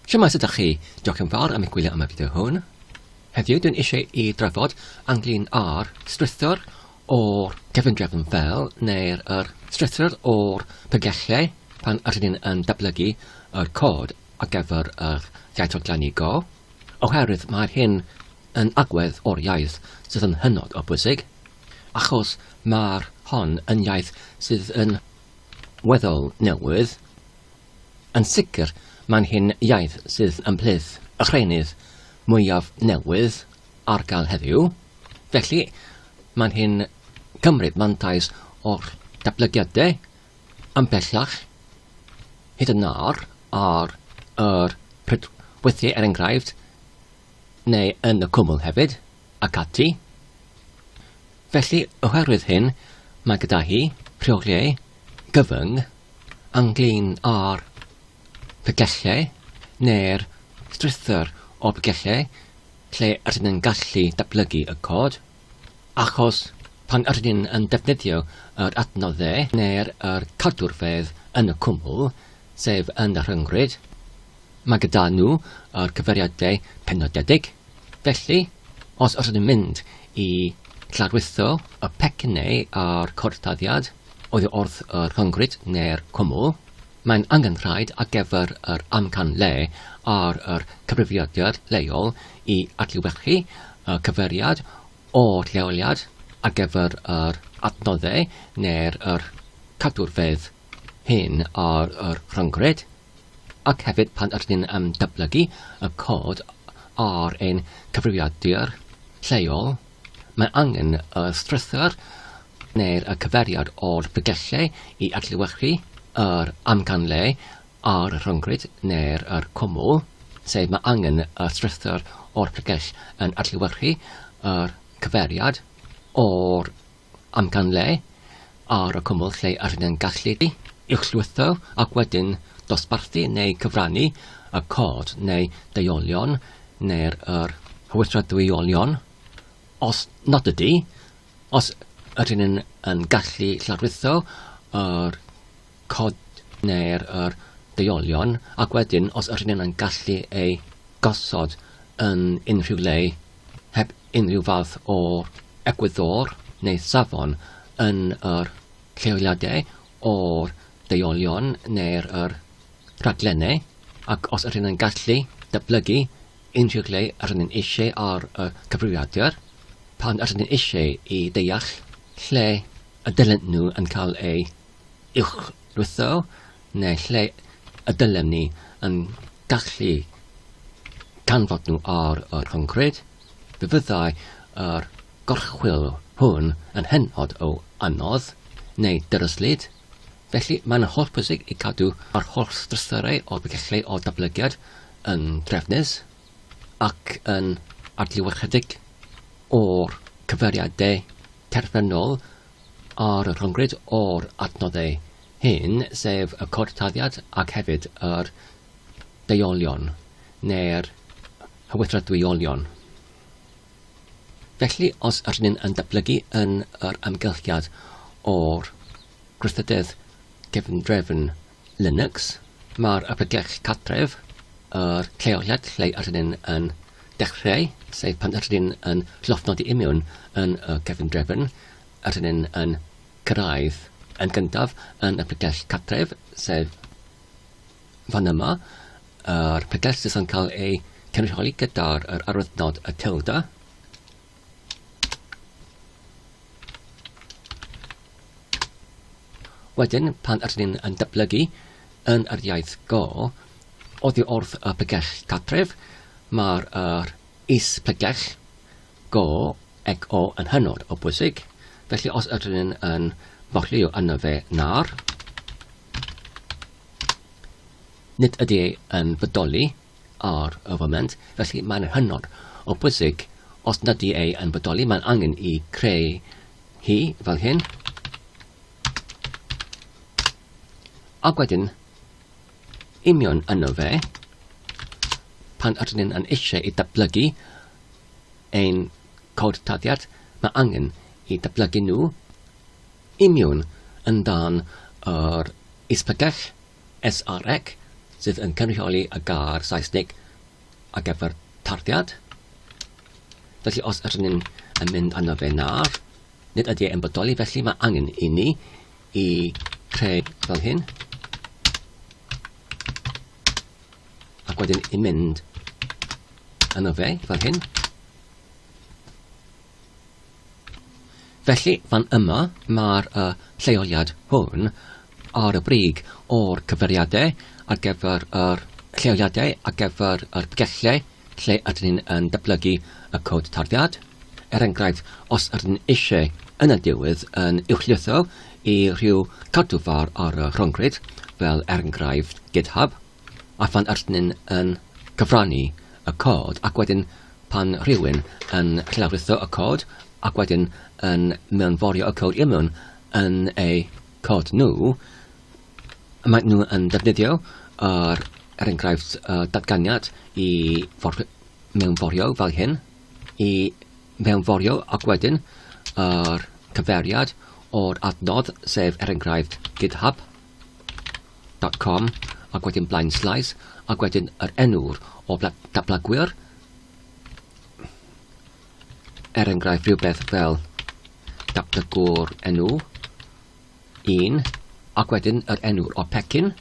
Shwmae sut dach chi? Diolch yn fawr am eich gwylio am y fideo hwn. Heddiw dwi'n eisiau i drafod anglyn ar strwythur o'r cefndrefn fel neu'r yr strwythur o'r pygellau pan ydyn ni'n yn datblygu yr cod ar gyfer yr iaith organigo oherwydd mae'r hyn yn agwedd o'r iaith sydd yn hynod o bwysig achos mae'r hon yn iaith sydd yn weddol newydd. Yn sicr, mae'n hyn iaith sydd ymhlith y rheinydd mwyaf newydd ar gael heddiw, felly mae'n hyn cymryd mantais o'r datblygiadau yn bellach hyd yn nawr ar yr pryd weithiau er enghraifft neu yn y cwmwl hefyd ac ati. Felly, oherwydd hyn, mae gyda hi rheoliau gyfyng ynglŷn â'r pyllylleu neu'r strwythur o byllylleu lle rydyn yn gallu datblygu y cod, achos pan rydyn yn defnyddio yr adnoddau neu'r yr cadwrfedd yn y cwmwl, sef yn y rhyngrwyd, mae gyda nhw yr cyfeiriadau penodedig. Felly, os os ydym mynd i lawrlwytho y pecynnau a'r cortaddiad oddi wrth y rhyngwrit neu'r cwmwl, mae'n angenrhaid ar gyfer yr amcan lle ar yr cyfrifiadur leol i adlewyrchu y cyfeiriad o'r lleoliad ar gyfer yr adnoddau neu'r cadwrfeydd hyn ar y rhyngwrit. ac hefyd pan ydyn ni'n yym datblygu y cod ar ein cyfrifiadur lleol, mae angen y strwythur neu'r y cyfeiriad o'r bregyllau i adlewyrchu yr amcanle ar y rhyngrwyd neu'r yr cwmwl, sef mae angen y strwythur o'r pregell yn adlewyrchu yr cyfeiriad o'r amcanleu ar y cwmwl lle yr ydyn yn gallu uwchlwytho ac wedyn dosbarthu neu cyfrannu y cod neu deuolion neu'r yr hwythradwyolion os nad ydy, os yr ydyn yn gallu llawrlwytho yr cod neu'r yr deuolion ac wedyn os ydyn yn gallu ei gosod yn unrhyw le heb unrhyw fath o egwyddor neu safon yn yr lleoliadau o'r deuolion neu'r yr rhaglennau ac os ydyn yn gallu datblygu unrhyw le ydyn yn eisiau ar y cyfrifiadur pan ydyn yn eisiau i ddeall lle y dylen nhw yn cael eu uwchlwytho neu lle y dylem ni yn gallu canfod nhw ar y rhyngrwyd, fe fyddai yr gorchwyl hwn yn hynod o anodd, neu dyryslyd. Felly, mae'n hollbwysig i gadw yr holl strwythurau o'r bregyllau o datblygiad yn drefnus ac yn adlewyrchedig o'r cyfeiriadau terfynol a'r rhyngrwyd o'r adnoddau hyn, sef y cod taliad ac hefyd yr deuolion neu'r hywyddradwyolion. Felly, os ydyn ni'n yn datblygu yn yr amgylchiad o'r gwrthydydd gefndrefn Linux, mae'r ystadegau cartref, yr lleoliad lle yr ydyn yn dechreu, sef pan yr ydyn yn llofnodi i mewn yn y cefndrefn, yr ydyn yn cyrraedd yn gyntaf yn y pregell cartref, sef fan yma, yr pregell sydd yn cael ei cynrychioli gyda'r arwyddnod y tilde, Wedyn, pan ydyn ni'n yn datblygu yn yr iaith go, oddi wrth y pregell cartref, mae'r er is pregell go ac o yn hynod o bwysig. Felly os ydyn ni'n yn borlio yna fe na'r, nid ydy yn bodoli ar y foment, felly mae'n hynod o bwysig, os nad i ei yn bodoli, mae'n angen i creu hi fel hyn. A wedyn, union yno fe, pan ydyn ni'n yn eisiau i datblygu ein cod taddiad, mae angen i datblygu nhw imiwn yn dan yr ispegell SREC, sydd yn cynrychioli y gair Saesnig ar gyfer tarddiad. Felly os ydyn ni'n yn mynd arno fe nawr, nid ydy e'n bodoli, felly mae angen i ni i creu fel hyn. Ac wedyn i mynd arno fe fel hyn. Felly, fan yma, mae'r y lleoliad hwn ar y brig o'r cyfeiriadau ar gyfer yr lleoliadau ar gyfer yr pgellau lle ydyn ni'n yn datblygu y cod tarddiad. Er enghraifft, os ydyn ni eisiau yn y diwedd yn uwchlwytho i rhyw cadw far ar y rhyngrwyd, fel er enghraifft GitHub, a phan ydyn ni yn cyfrannu y cod ac wedyn pan rhywun yn llawrytho y cod ac wedyn yn mewnforio y cod immwn yn eu cod nhw, mae nhw yn defnyddio yr er enghraifft y datganiad i for mewnforio fel hyn, i mewnforio ac wedyn yr cyferiad o'r adnodd sef er enghraifft GitHub. dot com ac wedyn blaen slaes ac wedyn yr enw'r o dablagwyr er enghraifft rhywbeth fel dablagwr enw 1 ac wedyn yr enw'r o pecyn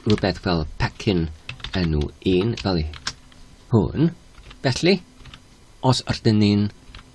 rhywbeth fel pecyn enw 1 fel hwn felly os ydyn ni'n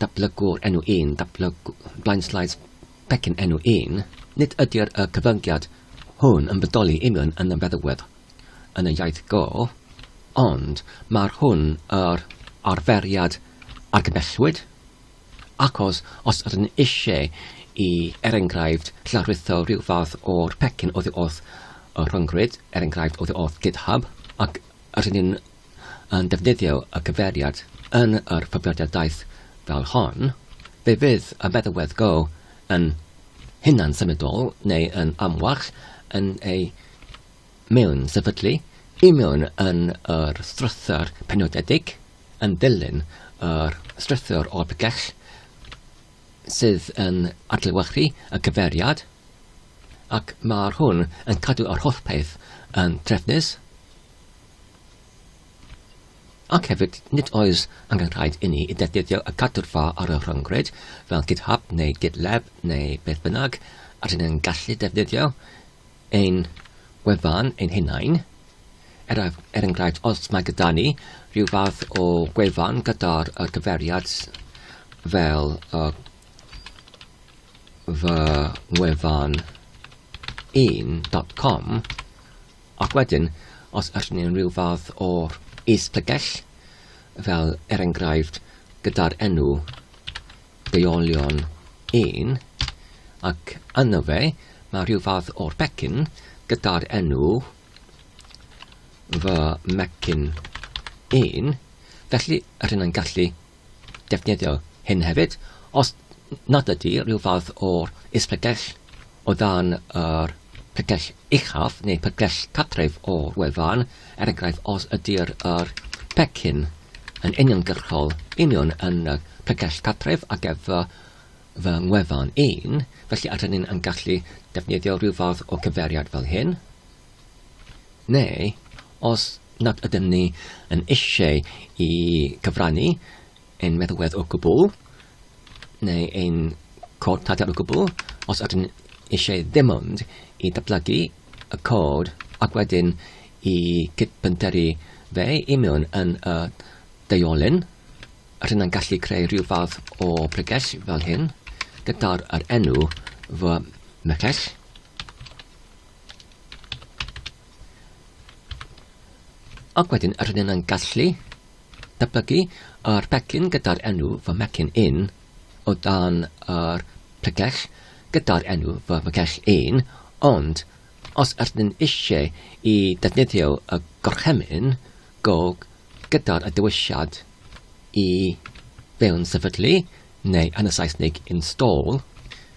Datblygwr enw un, datblygw-, blainslides pecyn enw un, nid ydy'r y cyfyngiad hwn yn bodoli union yn y feddygfedd yn y iaith go, ond mae'r hwn yr arferiad argymhellwyd, achos os ydyn eisiau i, er enghraifft, lawrlwytho rhyw fath o'r pecyn oddi wrth y rhyngrwyd, er enghraifft oddi wrth GitHub, ac rydyn ni'n yn defnyddio y cyfeiriad yn yr hyfrifiadugaeth fel hon, fe fydd y feddalwedd go yn hunan-symudol neu yn amwach yn ei mewn-sefydlu i mewn yn yr strwythur penodedig yn ddilyn yr strwythur o'r pregell sydd yn adlewyrchu y cyfeiriad ac mae'r hwn yn cadw yr holl peth yn trefnus. Ac hefyd, nid oes angen rhaid inni i ddefnyddio y cadwrfa ar y rhyngrwyd, fel GitHub neu GitLab neu beth bynnag, rydyn ni'n gallu defnyddio ein gwefan ein hunain. Er, er enghraifft, os mae gyda ni rhyw fath o gwefan gyda'r uh, cyferiad fel uh, fy ngwefan 1.com, Ac wedyn, os ydyn ni'n rhyw fath o is-lygell, fel er enghraifft gyda'r enw deuolion 1, ac yno fe, mae rhyw fath o'r pecyn gyda'r enw fy mecyn 1, felly rydyn ni'n gallu defnyddio hyn hefyd, os nad ydy rhyw fath o'r is-pregell o dan yr pregell uchaf neu pregell cartref o'r wefan, er enghraifft os ydy'r yr pecyn yn uniongyrchol union yn y pregell cartref ar gyfer fy ngwefan un, felly a rydyn ni'n gallu defnyddio rhyw fath o cyfeiriad fel hyn. Neu, os nad ydym ni yn eisiau i gyfrannu ein meddwedd o gwbl, neu ein cod cadair o gwbl, os ydym eisiau ddim ond i datblygu y cod ac wedyn i gydbynteru fe i mewn yn y deiolyn, rydyn yn gallu creu rhyw fath o bregell fel hyn, gyda'r yr enw fy mregell. Ac wedyn rydyn ni'n gallu datblygu yr pecyn gyda'r enw fy mecyn in o dan yr pregell gyda'r enw fy mregell in, ond os ydyn ni'n eisiau i ddefnyddio y gorchymyn go gyda'r dewisiad i fewn sefydlu neu yn y Saesneg install,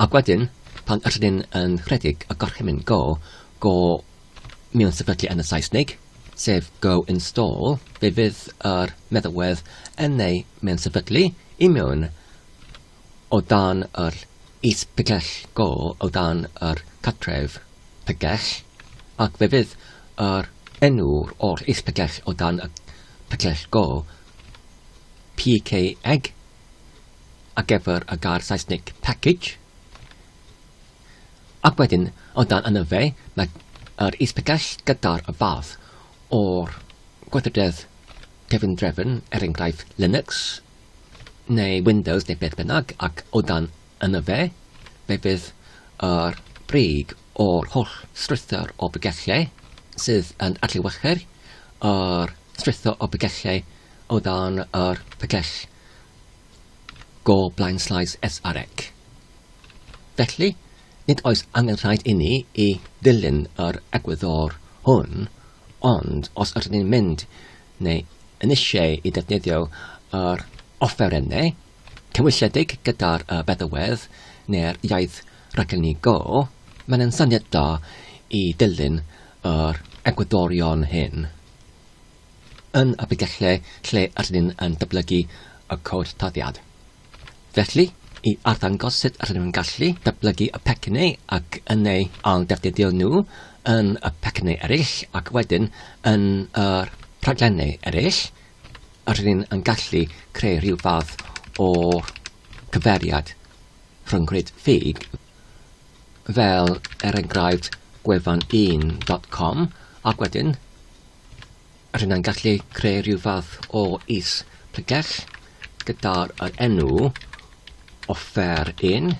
Ac wedyn, pan ydyn ni'n yn rhedeg y gorchymyn go, go mewn sefydlu yn y Saesneg, sef go install, fe fydd yr meddalwedd yn ei mewn sefydlu i mewn o dan yr is-pigell go, o dan yr cartref pigell, ac fe fydd yr enw o'r is-pigell o dan y pigell go, pkeg, ar gyfer y gair Saesneg package, ac wedyn o dan yna fe, mae yr is-pegell gyda'r fath o'r gweithrededd cefndrefn, er enghraifft Linux, neu Windows neu beth bynnag, ac o dan yna fe, fe fydd yr brig o'r holl strwythur o bygellau sydd yn adlewyrchu'r yr strwythur o bygellau o dan yr pygell go blaen sleis SREC. Felly, nid oes angen rhaid inni i ddilyn yr egwyddor hwn, ond os ydyn ni'n mynd neu yn eisiau i ddefnyddio yr offerynnau Cywysiedig gyda'r feddywedd neu'r iaith raglenni go, mae'n un syniad da i ddilyn yr egwyddorion hyn yn y bydgellau lle rydyn ni'n yn datblygu y cod tarddiad. Felly, i arddangos sut rydyn ni'n gallu datblygu y pecynnu ac yn eu ailddefnyddio nhw yn y pecynnu eraill ac wedyn yn yr rhaglenni eraill, a rydyn yn gallu creu rhyw fath o gyfeiriad rhyngrwyd ffug, fel er enghraifft gwefan 1 dot com, ac wedyn rydyn yn gallu creu rhyw fath o is pregell gyda'r enw offer 1,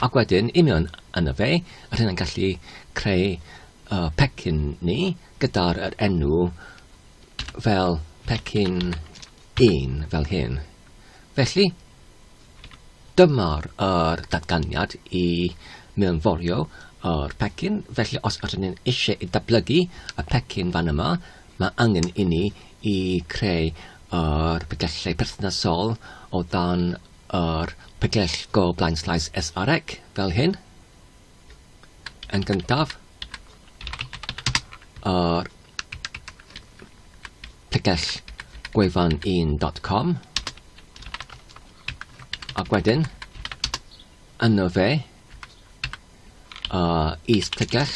ac wedyn i mewn yn y fe, rydyn yn gallu creu uh, pecyn ni gyda'r enw fel pecyn un fel hyn. Felly, dyma'r yr datganiad i mewnforio yr pecyn. Felly, os ydyn ni'n eisiau i datblygu y pecyn fan yma, mae angen i ni i creu yr pegellau perthnasol o dan yr pegell go blaen slaes SREC fel hyn. yn gyntaf ar picell gwefan1.com ac wedyn yno fe uh, is picell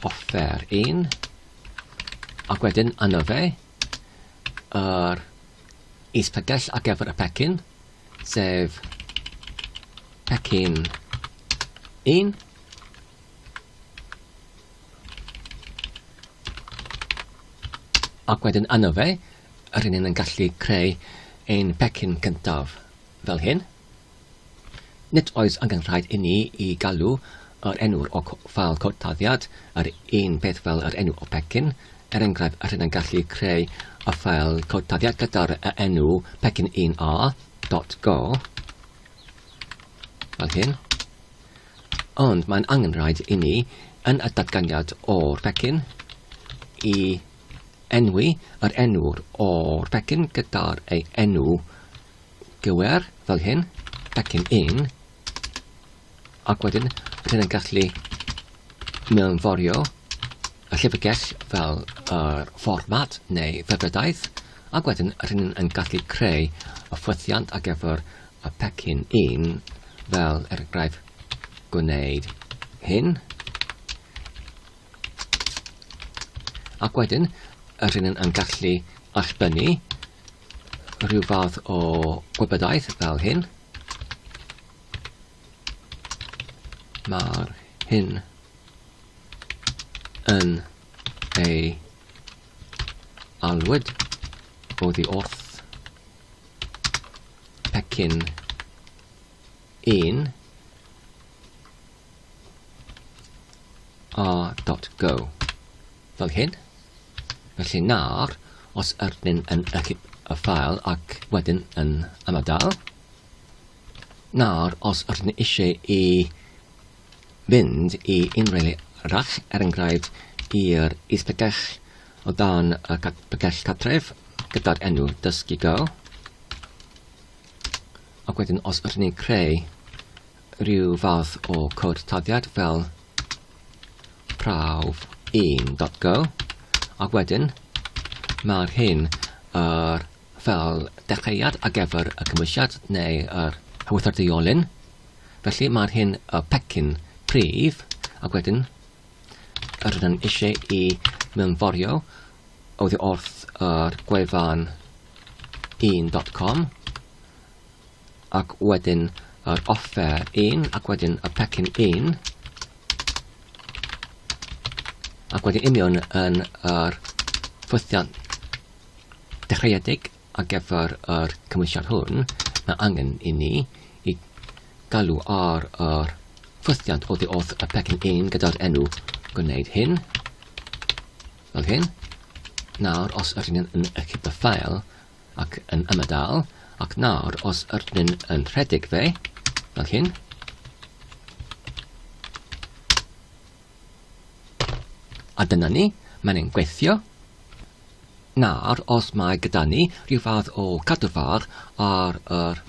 offer 1 ac wedyn yno fe yr uh, is picell ar gyfer y pecyn sef pecyn 1, ac wedyn yno fe, rydyn ni'n yn gallu creu ein pecyn cyntaf fel hyn. Nid oes angen rhaid i ni i galw Yr enw'r ok fel cod-dyddiad, yr un peth fel yr enw o pecyn. Er enghraifft, rydyn yn gallu creu y ffeil cod-dyddiad gyda'r enw pecyn un a dot go, fel hyn, ond mae'n angen rhaid i ni, yn y datganiad o'r pecyn, i enwi yr enw'r o'r pecyn gyda'r ei enw gywir, fel hyn, pecyn un, Ac wedyn, bydd hyn yn gallu mewnforio y llyfrgell fel yr fformat neu ddygredaeth, ac wedyn rydyn ni'n yn gallu creu y ffwythiant ar gyfer y pecyn un, fel er enghraifft gwneud hyn. Ac wedyn, rydyn ni'n yn gallu allbynnu rhyw fath o gwybodaeth fel hyn. Mae'r hyn yn ei alwyd oddi wrth pecyn un a.go fel hyn. Felly nawr, os ydyn yn ychydig y ffael ac wedyn yn ymadael, nawr os ydyn ni eisiau i fynd i unrhyw le arall, er enghraifft i'r is-bregell o dan y bregell cartref gyda'r enw Dysgu Go. Ac wedyn os ydyn ni'n creu rhyw fath o cod taddiad fel prawf 1.go ac wedyn mae'r hyn yr fel dechreuad ar gyfer y cymwysiad neu yr ewythr deiolun. Felly mae'r hyn y pecyn prif ac wedyn yr ydyn yn eisiau i mewnforio oddi wrth yr gwefan 1.com ac wedyn yr offer 1 ac wedyn y pecyn 1 ac wedyn union yn yr ffwythiant dechreuedig ar gyfer yr cymwysiad hwn, mae angen i ni i galw ar yr ffwythiant oddi wrth y pecyn 1 gyda'r enw gwneud hyn, fel hyn. Nawr, os ydyn ni'n yn y cyda ffael ac yn ymadael, ac nawr, os ydyn ni'n yn rhedeg fe, fel hyn, A dyna ni, mae'n ein gweithio. Nawr, os mae gyda ni rhyw fath o cadw fach ar yr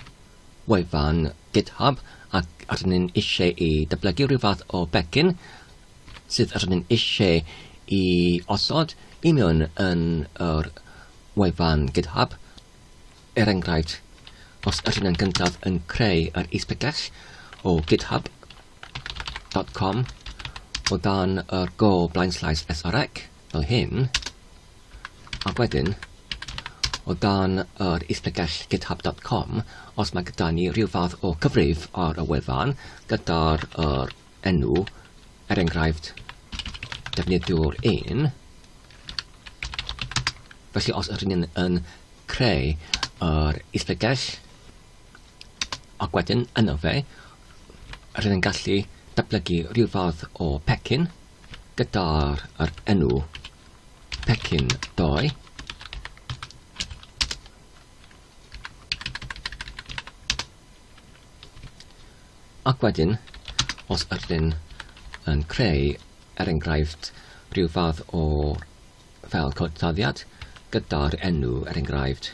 wefan GitHub ac rydyn ni'n eisiau i dyblygu rhyw fath o becyn sydd rydyn ni'n eisiau i osod i mewn yn yr wefan GitHub, er enghraifft, os ydyn yn gyntaf yn creu yr is-bregell o GitHub, dot com o dan yr go blaenslais SREC fel hyn ac wedyn o dan yr isbregell github.com os mae gyda ni rhyw fath o cyfrif ar y wefan gyda'r er enw er enghraifft defnyddiwr 1 felly os ydyn ni'n yn creu yr isbregell Ac wedyn yno fe rydyn ni'n gallu datblygu rhyw fath o pecyn gyda'r yr enw pecyn 2 Ac wedyn, os ydyn yn creu, er enghraifft, rhyw fath o fel codaddiad gyda'r enw, er enghraifft,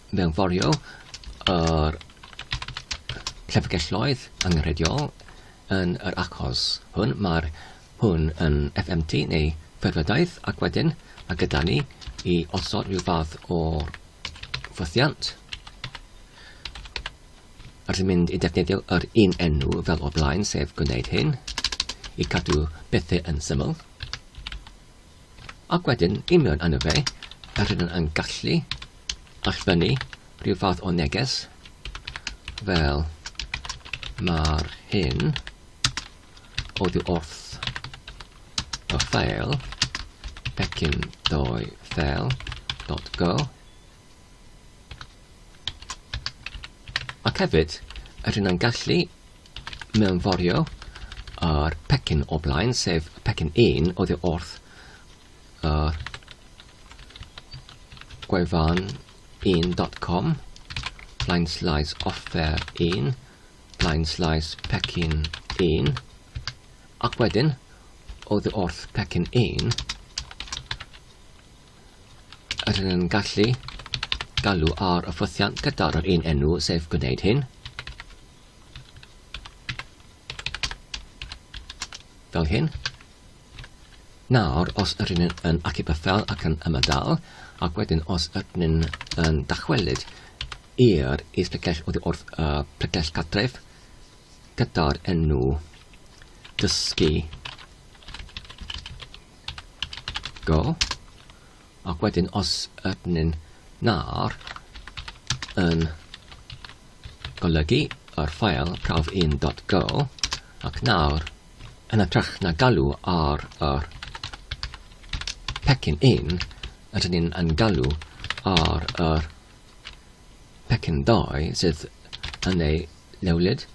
mewnforio yr llyfrgelloedd angenrheidiol yn yr achos hwn. Mae'r hwn yn FMT neu ffurfiodaeth ac wedyn mae gyda ni i osod rhyw fath o'r ffwthiant a rydyn mynd i defnyddio yr un enw fel o blaen sef gwneud hyn i cadw bethau yn syml. Ac wedyn, i mewn arno fe, yr rydym yn gallu allfynnu rhyw fath o neges fel mae'r hyn oddi wrth y ffeil pecyn ddoe ffeil.go Ac hefyd, yr hyn yn gallu mewnforio yr pecyn o blaen, sef y pecyn 1 oddi wrth y gwefan 1.com blaen slaes offer 1 blaen slaes pecyn 1 ac wedyn oddi wrth pecyn 1 Rydyn yn gallu galw ar y ffwythiant gyda'r yr un enw, sef gwneud hyn. Fel hyn. Nawr, os ydyn yn, yn acu byffel ac yn ymadael, ac wedyn os ydyn yn, yn dachwelyd i'r is plegell oddi wrth y uh, plegell catref gyda'r enw dysgu go ac wedyn os ydyn nhw'r yn golygu yr ffael prawf 1.go ac nawr yn ytrach na galw ar yr pecyn 1 ydyn ni'n yn galw ar yr Pecyn dau sydd yn ei lewlyd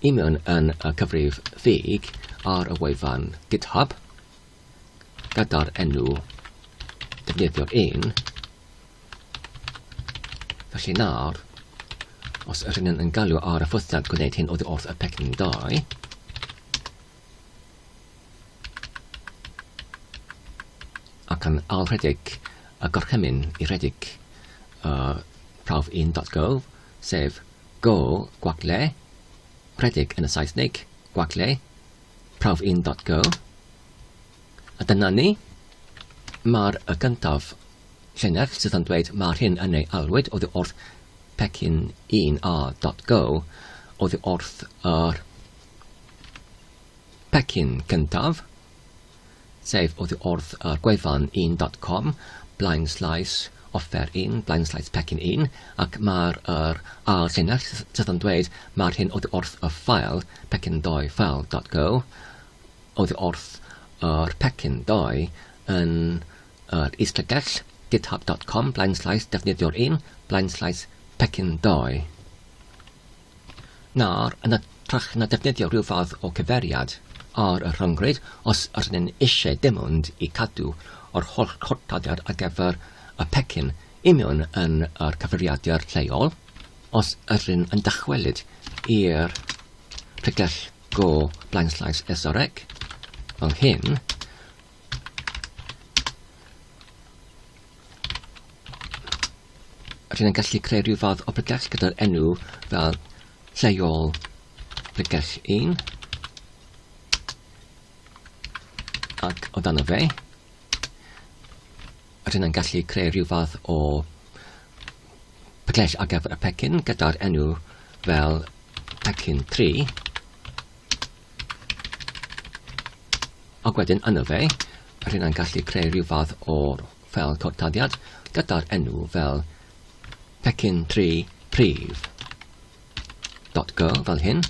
i mewn yn y cyfrif ffug ar y wefan GitHub gyda'r enw defnyddiwr un. Felly nawr, os rydyn yn galw ar y ffwthiant gwneud hyn oddi wrth y pecyn dau, ac yn ailrhedeg y gorchymyn i redeg y prawf 1.go, sef go gwag le, rhedeg yn y Saesneg, gwag le, prawf 1.go. A dyna ni. Mae'r y gyntaf llinell sydd yn dweud mae'r hyn yn ei alwyd oddi wrth pecyn 1a.go oddi wrth yr Pecyn cyntaf, sef oddi wrth y gwefan un dot com, blaen slaes offer un, blaen slaes pecyn un, ac mae'r yr ail llinell sydd yn dweud mae'r hyn oddi wrth y ffael pecyn doi file dot go, oddi wrth yr pecyn doi yn yr islygell github dot com, blaen slaes defnyddiwr un, blaen slaes pecyn doi. nawr yn hytrach na defnyddio rhyw fath o gyfeiriad ar y rhyngrwyd os ydyn ni'n eisiau dim ond i cadw yr holl chortadau ar gyfer y pecyn i mewn yn yr cyfrifiadur lleol os ydyn yn dychwelyd i'r pregell go blaenllaws SREC fel hyn Rydyn ni'n gallu creu rhyw fath o bregell gyda'r enw fel lleol bregell 1 ac o dan y fe rydyn ni'n gallu creu rhyw fath o pecell ar gyfer y pecyn gyda'r enw fel pecyn 3 Ac wedyn yn y fe, rydyn ni'n gallu creu rhyw fath o'r fel cortadiad gyda'r enw fel pecyn 3 prif. Dot go fel hyn.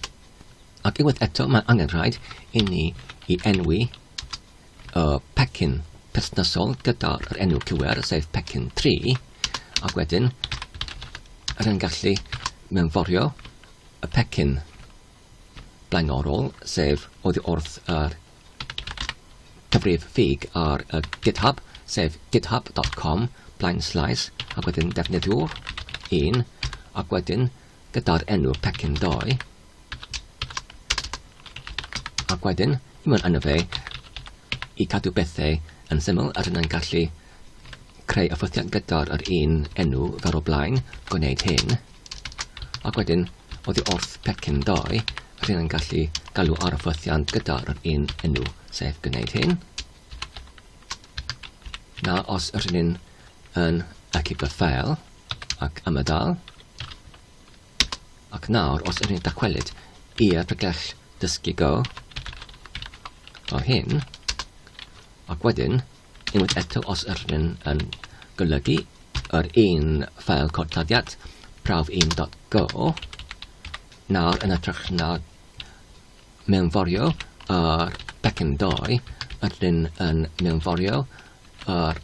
Ac unwaith eto mae angen rhaid i ni i enwi y pecyn perthnasol gyda'r enw cywir, sef pecyn 3, ac wedyn rydyn ni'n gallu mewnforio y pecyn blaenorol, sef oddi wrth yr cyfrif ffug ar y GitHub, sef github dot com blaen slaes ac wedyn defnyddiwr 1 ac wedyn gyda'r enw pecyn 2 ac wedyn i mewn arno fe i cadw bethau yn syml a rydyn yn gallu creu offythiant gyda'r yr un enw fel o blaen, gwneud hyn, ac wedyn, oddi wrth pecyn 2, rydyn yn gallu galw ar offythiant gyda'r yr un enw, sef gwneud hyn. Na, os rydyn yn acib y ffeil ac ymadael, ac nawr, os rydyn dacwelyd i'r pregell dysgu go, fel hyn, ac wedyn, Unwaith eto, os yr hyn yn golygu yr un ffeil cortladdiad, prawf 1.go, nawr yn hytrach na mewnforio yr pecyn 2, yr hyn yn mewnforio yr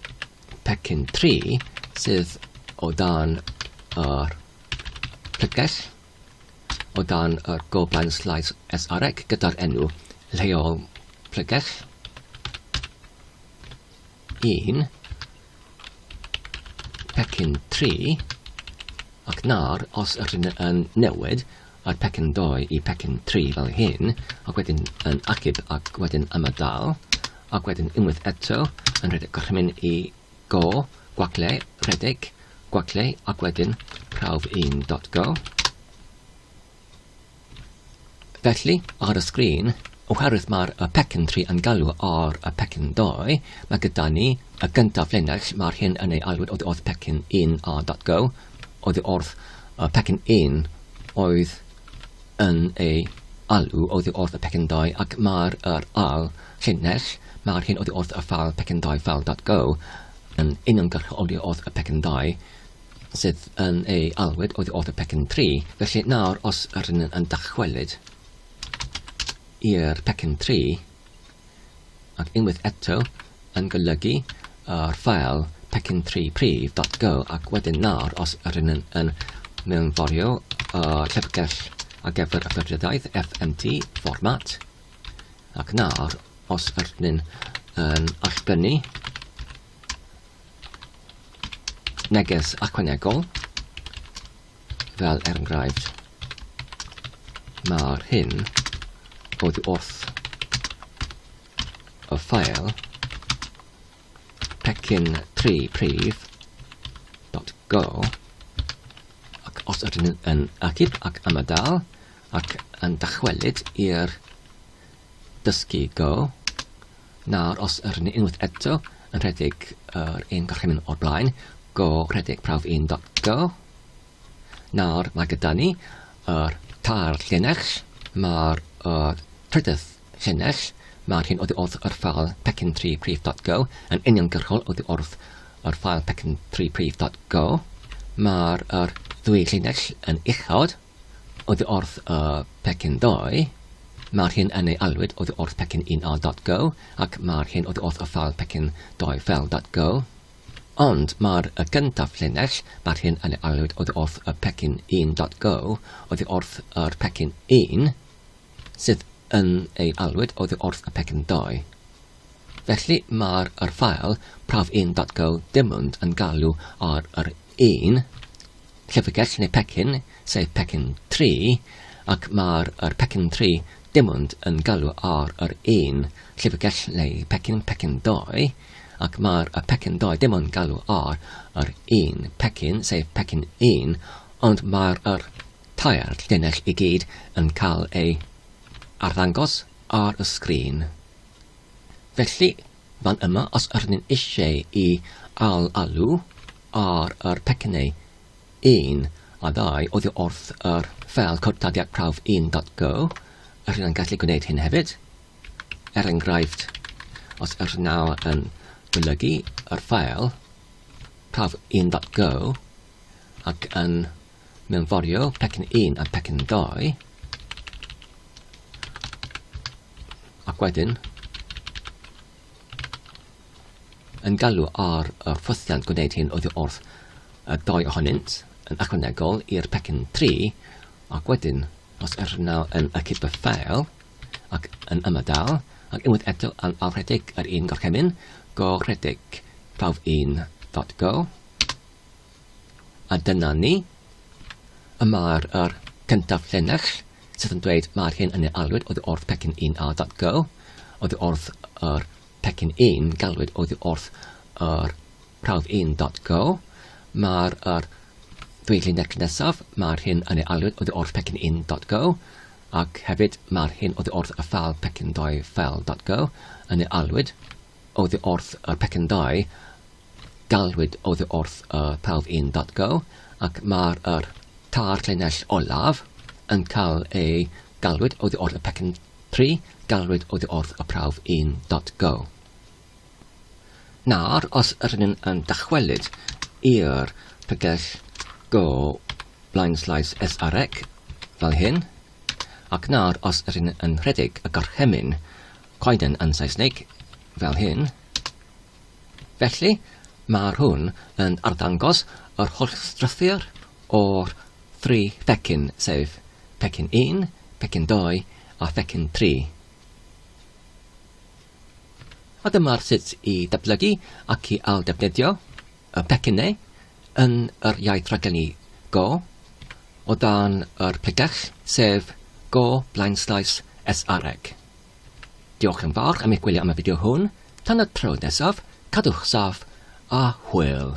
pecyn 3 sydd o dan yr plyges. o dan y goban Slides SREC gyda'r enw lleol Plegell 1 pecyn 3 ac nawr os ydych chi'n yn newid a'r pecyn 2 i pecyn 3 fel hyn, ac wedyn yn achub ac wedyn ymadael, ac wedyn unwaith eto yn rhedeg gorchymyn i Go, gwacle, rhedeg, gwacle ac wedyn prawf 1.go. Felly, ar y sgrin, oherwydd mae'r y pecyn 3 yn galw ar y pecyn 2, mae gyda ni y gyntaf linell, mae'r hyn yn ei alwyd oedd wrth pecyn 1 a.go, oedd wrth y pecyn 1 oedd yn ei alw oddi wrth y pecendau ac mae'r yr ail llinell, mae'r hyn oddi wrth y ffeil pecendau ffeil dot go, yn uniongyrchol oddi wrth y pecendau sydd yn ei alwyd oddi wrth y pecyn tri. Felly nawr os rydyn yn dychwelyd i'r pecyn tri, ac unwaith eto yn golygu yr ffeil pecyn 3 prif dot go ac wedyn nawr os rydyn yn, yn mewnforio y llyfrgell ar gyfer y ffurfiodaeth FMT format ac nawr os rydyn yn allbrynu neges ychwanegol Fel er enghraifft, mae'r hyn oddi wrth y ffael pecyn tri prif dot go ac os ydyn yn agib ac amydal ac yn dychwelyd i'r dysgu go Nawr os yr ni unwaith eto yn rhedeg yr un gorchymyn o'r blaen, go rhedeg prawf 1.go. Nawr mae gyda ni yr tair llinell, mae'r uh, trydydd llinell, mae'r hyn oddi wrth yr ffael pecyn 3 prif.go yn uniongyrchol oddi wrth yr ffael pecyn 3 prif.go. Mae'r er ddwy llinell yn uchod, oddi wrth y pecyn ddoe, mae'r hyn yn ei alwyd oddi wrth pecyn 1a.go ac mae'r hyn oddi wrth y ffeil pecyn ddoe ffeil.go. Ond mae'r y gyntaf llinell, mae'r hyn yn ei alwyd oddi wrth y pecyn 1.go oddi wrth yr pecyn 1, sydd yn ei alwyd oddi wrth y pecyn ddoe. Felly mae'r yr ffael prawf 1.go dim ond yn galw ar yr 1 Llyfrgell neu pecyn, sef pecyn tri, ac mae'r yr pecyn tri dim ond yn galw ar yr un llyfrgell neu pecyn, pecyn doi, ac mae'r y pecyn doi dim ond galw ar yr un pecyn, sef pecyn un, ond mae'r yr tair llinell i gyd yn cael ei arddangos ar y sgrin. Felly, fan yma, os ydyn ni'n eisiau i al-alw, ar yr pecynnau, un a ddau oddi wrth yr ffeil cod taddiad prawf 1.go, yr hyn yn gallu gwneud hyn hefyd, er enghraifft, os yr hyn nawr yn golygu yr ffeil prawf 1.go ac yn mewnforio pecyn 1 a pecyn 2, ac wedyn yn galw ar y rhwthiant gwneud hyn oddi wrth y dou ohonynt, yn ychwanegol i'r pecyn tri, ac wedyn, os yr naw yn y cyberffael, ac yn ymadael, ac unwaith eto yn awrhedeg yr un gorchymyn, go rhedeg prawf un dot go. A dyna ni. Y mae'r yr cyntaf llinell sydd yn dweud mae'r hyn yn ei alwyd oddi wrth pecyn 1A.go, oddi wrth yr pecyn 1 galwyd oddi wrth yr prawf 1.go, mae'r er, dweud necyn nesaf, mae'r hyn yn ei alwyd oddi wrth pecyn 1.go, ac hefyd mae'r hyn oddi wrth y ffal pecyn 2 ffel.go yn ei alwyd Oddi wrth y pecyn dau, galwyd oddi wrth y prawf un datgo, ac mae'r yr tair llinell olaf yn cael eu galwyd oddi wrth y pecyn tri, galwyd oddi wrth y prawf un datgo. Nawr, os ydyn ni'n yn dychwelyd i'r pregell go blind slice SREC fel hyn, ac nawr os ydyn ni'n rhedeg y gorchymyn Coeden yn Saesneg, fel hyn. Felly, mae'r hwn yn arddangos yr holl strwythur o'r thri phecyn, sef pecyn 1, pecyn 2 a phecyn 3. A dyma'r sut i datblygu ac i ailddefnyddio y pecynnau yn yr iaith raglenni Go o dan yr pregell, sef Go blaenslaes SREG. Diolch yn fawr am eich gwylio am y fideo hwn, tan y tro nesaf, cadwch saff a hwyl!